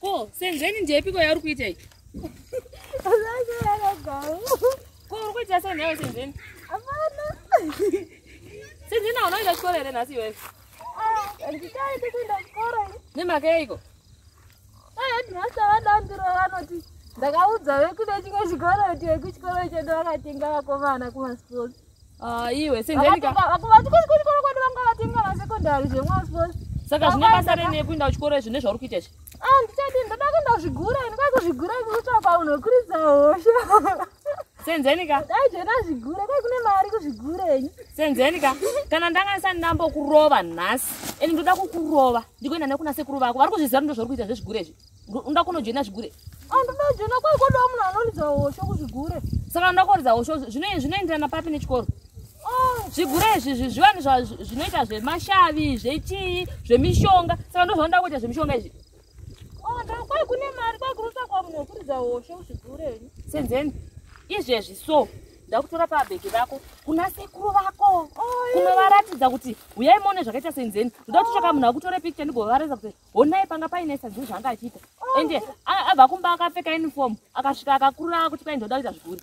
ko senzeni ndiyepiko yauri kuita iyi ko uri kuita sei nayo senzeni senzeni auna kuita chikoro here nhasi iwewe ah, nemhaka yeiko Headmaster vaDambiro vanoti ndakaudza vekune chimwe chikoro kuti vekuchikoro icho ndovakatenga vakomana kumasports. Ah, iwe senjenika. Vakuvati kuchikoro kwedu vanga vatenga masekondari zvemasports. Saka zvine basa rene kuinda kuchikoro izvi nezvauri kuita izvi? Ah, ndichadii ndoda kuenda kuzvigura ini kwakuzvigura kukutsvaka unokuridza hosha. senzenika dai zvena zvigure dai kune mari kuzvigurenyi senzenika kana ndanga ndisani ndambokurova nhasi ende ndoda kukurova ndikuenda nekuna sekuru vako vari kuzviziva ndo zvauri kuita zvezvigure izvi unoda kunojoina zvigure andoda ah, kujoina kwai kodawo munhu anoridza hosho kuzvigure saka unoda kuridza hosho zvinoenderana papi nechikoro ah. zvigure izvi zviwani zvinoita zvemashavi zvechii zvemishonga saka ndo zvaunoda kuita zvemishonga izvi senzeni izvezvi so ndakutora pabheki vako kuna sekuru vako kunovaratidza kuti huyai mone zvakaita senzeni ndoda kuti tsvaka munhu akutore picture ndigovaratidza kuti honai panga paine senzeni zvaanga achiita ende abva kumba akapfeka uniform akasvika akakurura kuti kwai ndoda kuita zviguri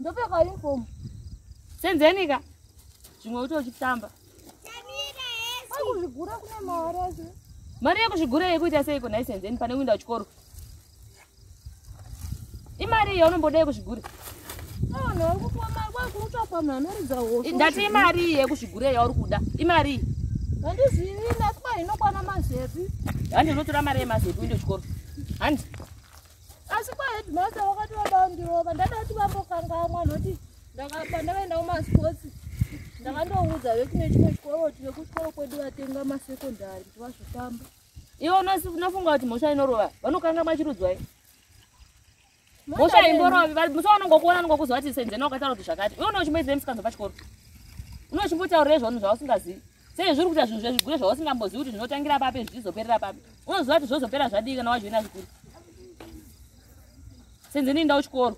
ndopfeka uniform senzenika zvimwe uto uchitamba kuzvigura kune mari acho mari yekuzvigura yekuita seiko nhai senzeni pane kuinda kuchikoro imari iyo unomboda yekuzvigura ndati imari iyi yekuzvigura yauri kuda imari iyi handizivi nasiba inokwana mazepi handi unotora mari yemazepi uinde kuchikoro handi asi kwaheadmaster vakati vada vandirova ndada kuti vambokangamwa noti pandakaenda kumasports ndakandoudza vekune chimwe chikoro kuti vekuchikoro kwedu vatenga masecondary kuti vazvitamba ivo unofunga kuti mhosva inorova vanokangamwa chirudzwai mhosva imborovi musi vanongo kuona anongo kuzova kuti senzena wakataura kuti zvakati iwe unochimboidzei musikanzwa pachikoro unochimbotaurira izvaunhu zvausingazivi sei zviri kuita zvinhu zvezvigure zvausingambozivi kuti zvinotangira papi zvichizoperera papi unoziva kuti zvozopera zvadii kana wajoina zvikuru senzeni inda uchikoro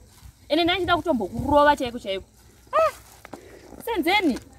ende ndaichida kutombokurova chaiko chaiko ah! senzeni